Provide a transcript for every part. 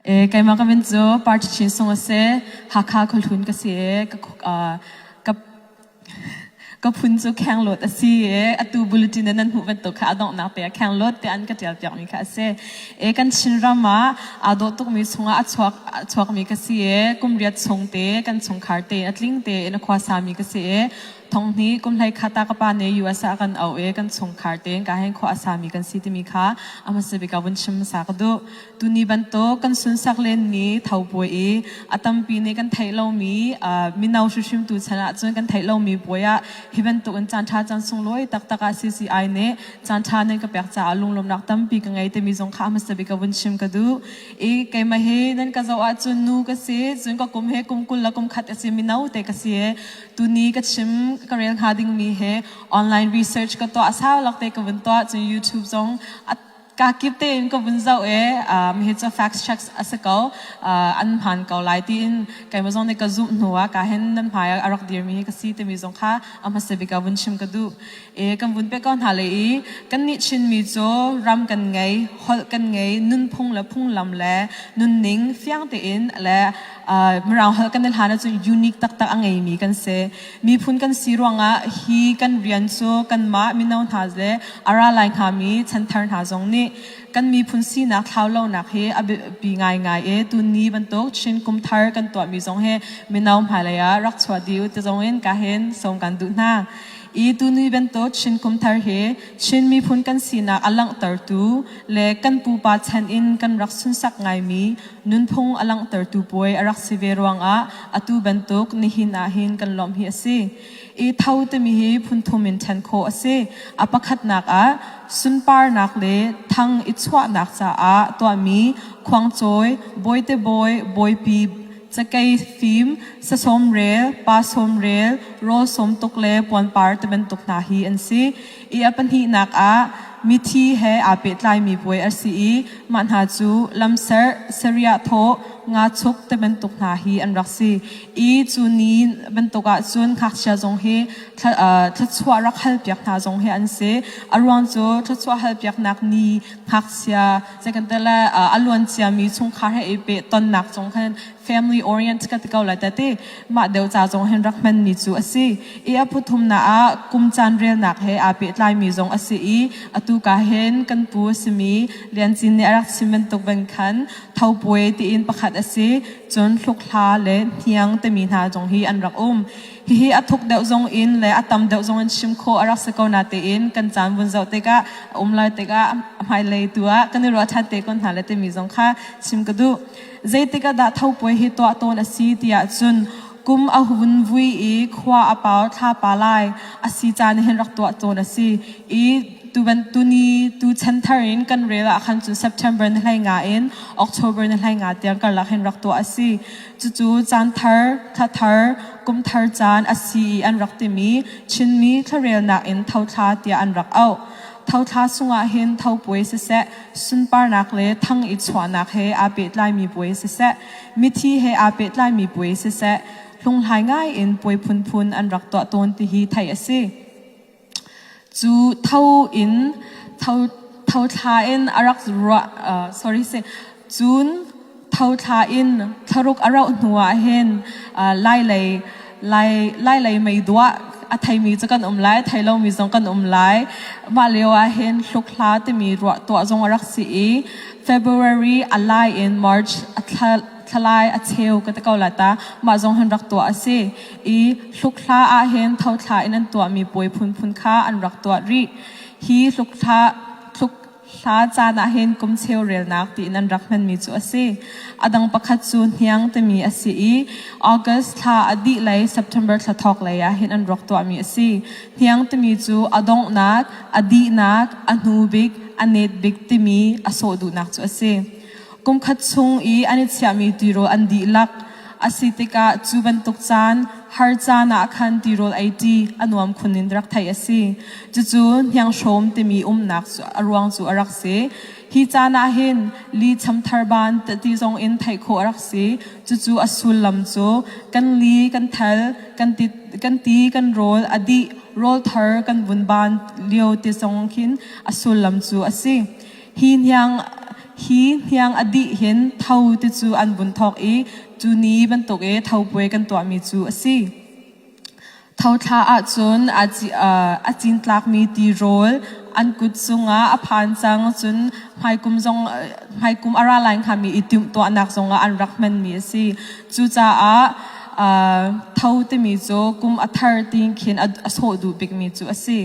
Keimah ka min cu Party Chin Sung a si. Hakha Khuahlun ka si i ka phun cu Khengluat a si i atu bulletin in nan hmuh bantuk kha a donghnak te ah Khengluat tiah an ka tial piakmi kha a si. Kan Chinram ah aa dawh tukmi chungah a chuakmi ka si i kum riat chung te, kan chungkhar te a tling tein a khuasami ka si i thonghni kumhlei khata ka pa ne US ah kan au i kan chungkhar tein kaa hen khawh a sami kan si timi kha a hmasa bik ah vun chim hmasa ka duh. Tuni bantuk kan sunsak lenmi thopuai i a tampi nih kan theih lomi mino hrimhrim tu chan ahcun kan theih lomi puai ah hi bantukin caanṭha caan sunglawi taktak ah CCI nih caanṭha nan ka pek caah lunglawmnak tampi ka ngei timi zong kha a hmasa bik ka vun chim ka duh i keimah hi nan ka zoh ahcun nu ka si cun ka kum he kum kul le kum khat a si mino te ka si tuni ka chim ka rel hnga dingmi he online research ka tuah sau lak te ka vun tuah cun YouTube zong a ka kip tein ka vun zoh e um, hi cu fact checks a si ko uh, an phan ko lai tiin keimah zong nih ka zumh hnu ah ka hen nan hmai a rak dirmi ka si timi zong kha a hmasa bik vun chim ka duh e kan vun pe ko hna le i kan nih chinmi cu ram kan ngei holh kan ngei nunphung le phunglam le nunning fiang tein le uh, mirang holh kan hlan cun unique taktak a ngeimi kan si Miphun kan si ruangah hi kan rian cu kanmah mino hna le a ra lai hngami chanthar hna zong nih kan miphun sinak thlau lonak hi a biapi ngaingai i tunni bantuk Chin kumthar kan tuahmi zong hi mino hmailei ah rak chuah dih u ti zongin kahin sawm kan duh hna i tuni bantuk Chin kumthar hi Chin miphun kan sinak a langhtertu le kan pupa chan in kan rak sunsak ngaimi nunphung a langhtertu puai a rak si ve ruangah atu bantuk nihin ah hin kan lawmh hi a si. I tho timi hi phunthum in ṭhen khawh a si. A pakhatnak ah sunparnak le thang i chuahnak caah tuahmi khuangcawi, bawitebawi, bawipi, cakei fim, sasawm rel, pa sawm rel, rawl sawm tuk le puanpar tibantuk hna hi an si. i a pahnihnak ah mithi he aa pehtlaimi puai a si i mah hna cu lamserh, seriah thawh, ngachuk ti bantuk hna hi an rak si i cu ni bantuk ah cun ngakchia zong hi thluachuah rak halpiak hna zong hi an si. A ruang cu thluachuah halpiaknak ni ngakchia zeikantele a luanciami chungkhar he i peh tonnak zong khan family orient ka ti ko la ta ti mah deu ca zong hin rak hman mi cu asi i a phuthumnak ah kum caan relnak he aa pehtlai mi zong asi i atu ka hen kan pu asimi liancin nih a rak chim bantuk bang khan thopuai tiin pakhat asi cun hlukhla le hniang timi hna zong hi an rak um hihi a thuk deuh zong in le a tam deuh zong in chim kho a rak si ko na tein kan caan vun zoh tikah a um lai tikah a hmailei tu ah kan i ruah ṭhan te kon hna le timi zong kha chim ka duh zeitik ah dah thopuai hi tuah tawn a si tiah cun kum a hun vui i khua a pau thlapa lai a si caan hin rak tuah tawn a si i tuvan tuni tu chan thar in kan rel ah khan cun September ni hlai nga in October ni hlai nga tiang karlak hin rak tuah a si cucu caan thar tha thar kum thar caan a si i an rak timi Chinmi thlarelnak in thothla tiah an rak auh Thothla chungah hin thopuai siseh, sunparnak le thang i chuahnak he aa pehtlaimi puai siseh, mithi he aa pehtlaimi puai siseh, hlunghlai ngaiin puai phunphun an rak tuah tawn tihi theih a si. Cu tho in tho, tho thla in a rak ruah, uh, sorry, say, cun Thothla in thlaruk a rauh hnu ah hin lailei lailei meiduah a theimi cu kan um lai thei lomi zong kan um lai mah lio ah hin hlukhla timi ruah tuah zong a rak si i February a lai in March a thalai a cheu ka te ko la ta mah zong hin rak tuah a si i hlukhla ah hin thothla in an tuahmi puai phunphun kha an rak tuah rih hi hlukhla Hla caan ah hin kum cheu relnak ti nan rak hmanmi cu a si. A dang pakhat cu Hniang timi a si i August thla a dih lei September thla thawk lei ah hin an ruak tuahmi a si. Hniang timi cu a donghnak, a dihnak, a hnubik, a net bik timi a sawh duhnak cu a si. Kumkhat chung i an i chiahmi tirawl an dihlak a si tikah cu bantuk caan har caan ah khan tirawl eiṭi a nuam khun in rak theih a si. Cucu Hnianghrawm timi umnak cu a ruang cu a rak si. Hi caan ah hin li chamthar ban ti zong in theih khawh a rak si. Cucu a sullam cu kan li, kan thal, kan ti, kan ti, kan rawl, a dih, rawlthar, kan vun ban lio te zong hin a sullam cu a si. hi hniang a dih hin tho te cu an vun thawk i cu ni bantuk i thopuai kan tuahmi cu a si. Thothla ahcun a cin tlakmi tirawl an kut cungah a phan cang cun hmaikum a ra lai hngami i timhtuahnak zongah an rak hmanmi a si. Cucaah tho timi cu kum a thar ti khin a sawh duh bikmi cu a si.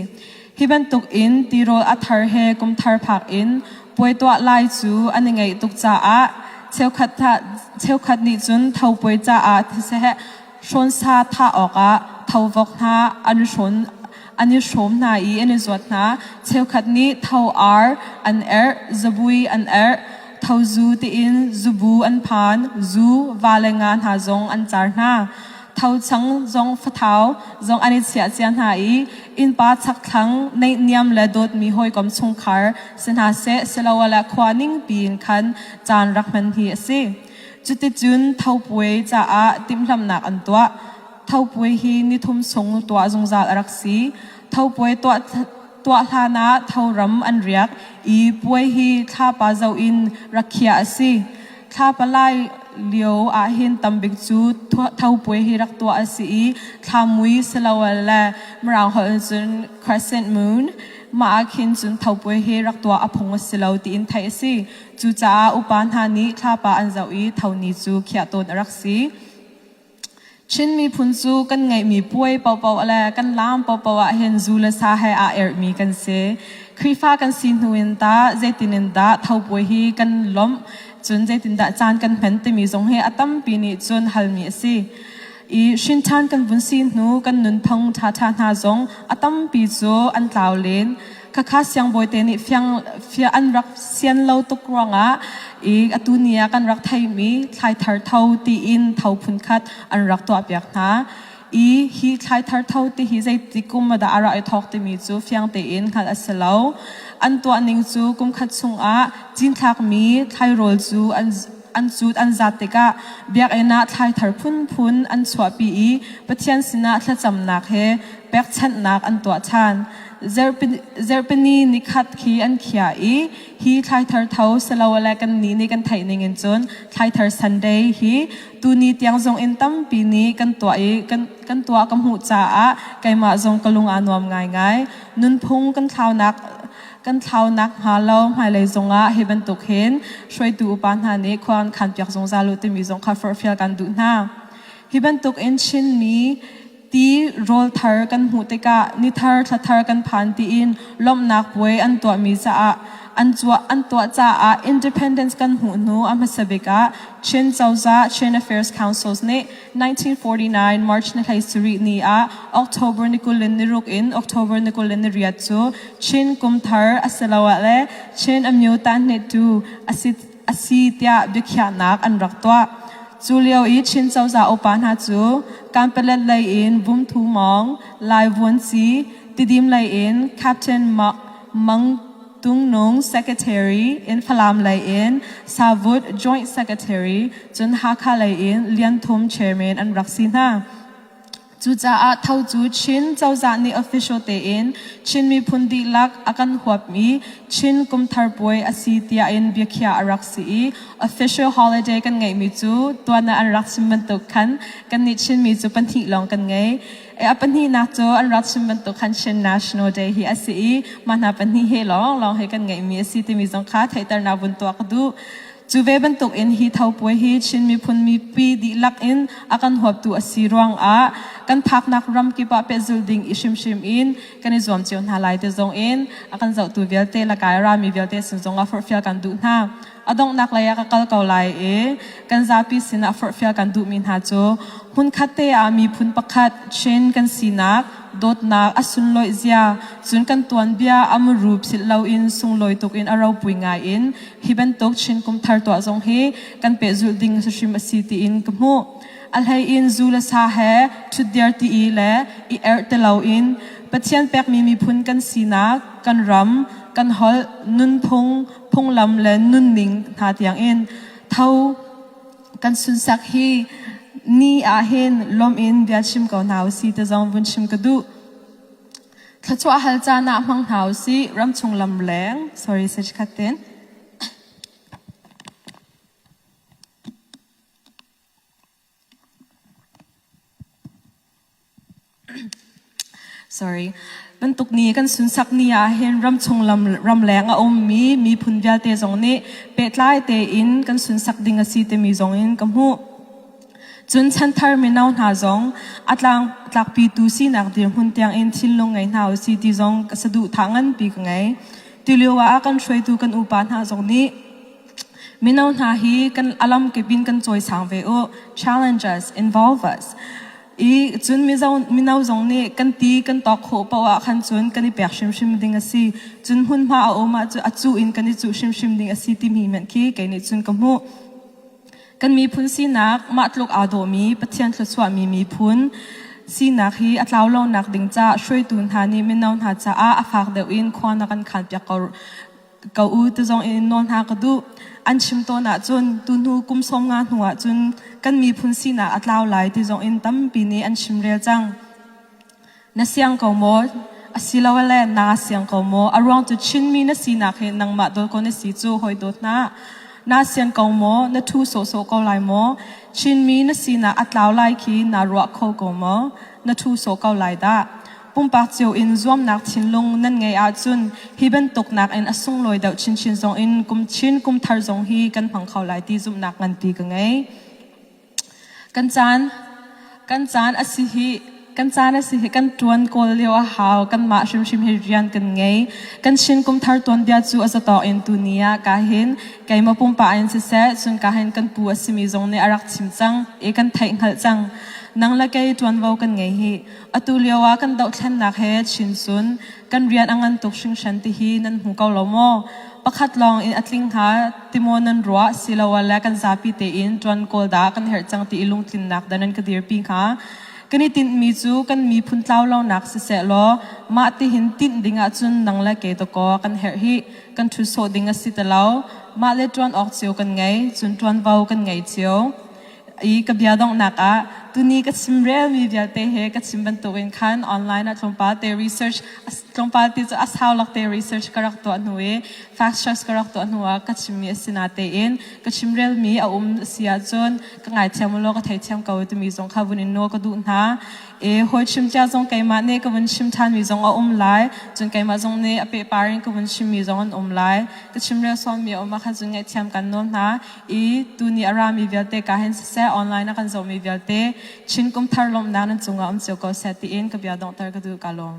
Hi bantuk in tirawl a thar he kumthar phak in puai tuah lai cu an i ngeih tuk caah cheukhat nih cun thopuai caah thiseheh hrawnsa thah awkah thovok hna an i hrawm hna i an i zuat hna. Cheukhat nih tho-ar an erh, zabui an erh, thozu tiin zubu an phan, zu, va le nga hna zong an car hna. thochang zong fathau zong an i chiah cia hna i innpa chakthlang neihniam le dawtmi hawikom chungkhar si hna seh siloah khua ning piin khan caan rak hman hi a si. Cuticun thopuai caah timhlamhnak an tuah. Thopuai hi nithum sung tuah zungzal a rak si. Thopuai tuah tuah hlan ah thoram an riak i puai hi thlapa zoh in rakhiah a si. Thlapa lai lio ahhin tambik cu thopuai hi rak tuah a si i thlamui siloal le mirang holh in cun crescent moon mah ahkhin cun thopuai hi rak tuah a phung a si lo tiin theih a si. Cucaah upa hna nih thlapa an zoh i thoni cu khiah tawn a rak si. Chin miphun cu kan ngeihmi puai paohpaoh le kan laam paohpaoh ahhin zu le sa he aa erhmi kan si. Khrihfa kan si hnu in tah zeitin in dah thopuai hi kan lawmh, cun zeitindah caan kan hman timi zong hi a tampi nih cun halmi a si. I hrinṭhan kan vun si hnu kan nunphung ṭhaṭha hna zong a tampi cu an tlau len. khakha siangbawite nih fiang fia an rak sian lo tuk ruangah i atu ni ah kan rak theimi thlaithar tho tiin tho phun khat an rak tuahpiak hna i hi thlaithar tho ti hi zeitik kum dah a ra i thawk timi cu fiang tein hngalh a si lo an tuah ning cu kum khat chungah cinthlakmi thlairawl cu an an cut an zat tikah biakinn ah thlaithar phunphun an chuahpi i Pathian sinah thlacamnak he pekchanhnak an tuah ṭhan. Zarhpini ni khat khi an khiah i hi thlaithar tho siloele kannih nih kan theih ningin cun Thlaithar Sunday hi tuni tiang zonginn tampi nih kan tuah i kan tuah ka hmuh caah keimah zong ka lung aa nuam ngaingai. Nunphung kan thlaunak kan thlau nakhnga lo hmailei zongah hi bantuk hin hruaitu upa hna nih khua an khanpiak zungzal u timi zong kha forhfial kan duh hna. Hi bantuk in Chinmi ti rawlthar kan hmuh tikah nithar thlathar kan phan tiin lawmhnak puai an tuahmi caah an tuah an tuah caah independence kan hmuh hnu a hmasa bik ah Chin Cozah Chin Affairs Councils nih 1949 March ni hlei sarih ni ah October ni kul in niruk in October ni kul in niriat cu Chin kumthar asiloah le Chin Amyuta hnehtu asi asi tiah biakhiahnak an rak tuah. Cu lio i Chin cozah upa hna cu Kanpalet lei in Bumthu Mawng, Lai Vuanci, Tidim lei in Captain Mang Tungnung Secretary in Falam lei in Savut Joint Secretary cun Hakha lei in Lian Thum Chairman an rak si hna. Cucaah Tho cu Chin cozah nih official tein Chin miphun dihlak a kan huapmi Chin kumthar puai a si tiah in biakhiah a rak si i official holiday kan ngeihmi cu tuan ah an rak chim bantuk khan kannih Chinmi cu pahnih lawng kan ngei. A pahnihnak cu an rat chim bantuk khan Chin National Day hi a si i mah hna pahnih he lawnglawng he kan ngeihmi a si timi zong kha theihternak vun tuah ka duh. Cu ve bantuk in hi thopuai hi Chin miphun mipi dihlak in a kan huaptu a si ruangah kan phaknak ram kip ah pehzulh ding i hrimhrim in kan i zuam cio hna lai te zong in a kan zohtu vialte le kai a rami vialte sin zongah forhfial kan duh hna. A donghnak lei ah ka kal ko lai i kan zapi sinah forhfial kan duhmi hna cu hmunkhatte ah miphun pakhat, Chin, kan sinak, dawtnak, a sunlawih zia, cun kan tuanbia a muru philh loin sunglawi tuk in a ropui ngai in hi bantuk Chin kumthar tuah zong hi kan pehzulh ding hlahrim a si tiin ka hmuh. A hlei in zu le sa he ṭhutdir ti i le i erh ti loin Pathian pekmi miphun kan sinak, kan ram, kan holh, nunphung, phunglam le nunning hna tiangin tho kan sunsak hi ni ah hin lom in bia chim ko hna usi te zong vun chim ka duh thlachuah hal caan ah hmang hna usi ram chung lam leng sorry sech khatin Bantuk ni kan sunsak ni ahhin ramchung ramleng a ummi miphun vialte zong nih pehtlai tein kan sunsak ding a si timi zong in ka hmuh. Cun chanthar mino hna zong a tlakpitu sinak dirhmun tiangin thinlung ngei hna u si ti zong ka saduhthah nganpi ka ngei. Tulio ah kan hruaitu kan upa hna zong nih Mino hna hi kan a lamkip in kan cawisang ve u. Challenges involve us. I cun mizo, mino zong nih kan ti kan tawk khawh paoh ah khan cun kan i pek hrimhrim ding a si. Cun hmunhma a um ah cu a cu in kan i cuh hrimhrim ding a si timi hmenh khi kei nih cun ka hmuh. Kan miphun sinak mah tluk aa dawhmi Pathian thluachuahmi miphun sinak hi a tlau lonak ding caah hruaitu hna nih mino hna caah a fak deuh in khua na kan khaan piak ko Ka u te zong in nawl hna ka duh. An chim tawn ahcun tuhnu kum sawm nga hnu ahcun kan miphun sinak a tlau lai ti zong in tampi nih an chim rel cang. Na siang ko maw? Asilole naa siang ko maw? A ruang cu Chinmi na sinak hi nangmah dawt ko na si cu hoi dawt hna. Naa sian ko maw? Na ṭhu sawhsawh ko lai maw? Chinmi na sinak a tlau lai khi naa ruah kho ko maw? Na ṭhu sawh ko lai dah. Pumpak cio in zuamnak thinlung nan ngeih ahcun hi bantuk nakin a sunglawi deuh chinchin zong in kum Chin kum thar zong hi kan hmang kho lai ti zumhnak nganpi ka ngei. Kan caan kan caan a si hi kan caan a si hi kan tuan kawl lio a hau kanmah hrimhrim hi rian kan ngei kan shin kum thar tuanbia cu a zatawk in tu ni ah ka hin keima pumpa in siseh cun ka hin kan pu a simi zong nih a rak chim cang e kan theih hngalh cang nang le kei tuanvo kan ngei hi Atu lioah kan dohthlennak he Chinsun kan rian a ngan tuk hringhran tihi nan hmu ko lo maw? Pakhat lawng in a tling hnga ti maw nan ruah siloah le kan zapi tein ṭuan kawl dah kan herh cang ti i lungtlinnak dah nan ka dirpi hnga? Kan i tinhmi cu kan miphun tlau lonak siseh law mah tihin tinh ding ahcun nang le kei dawkaw kan herh hi kan ṭhut sawh ding a si ti lo. Mah le ṭuan awk cio kan ngei, cun ṭuanvo kan ngei cio. i ka bia donghnak ah tuni ka chim relmi vialte he ka chim bantukin khan online ah tlawmpal te research tlawmpal te cu a saulak te research ka rak tuah hnu i fact checks ka rak tuah hnu ah ka chimmi a si na tein ka chim relmi a um si ahcun ka ngaithiam ulaw ka theithiam ko timi zong kha vun in nawl ka duh hna e hawi chim cia zong keimah nih ka vun chim ṭhanmi zong a um lai cun keimah zong nih a pehpar in ka vun chimmi zong an um lai ka chim rel sawmmi a um ah khan cun ngaihthiam kan nawl hna i tuni a rami vialte ka hin siseh online a kan zohmi vialte Chin kumthar lawmhnak nan cungah um cio ko seh tiin ka bia donghter ka duh ka lawm.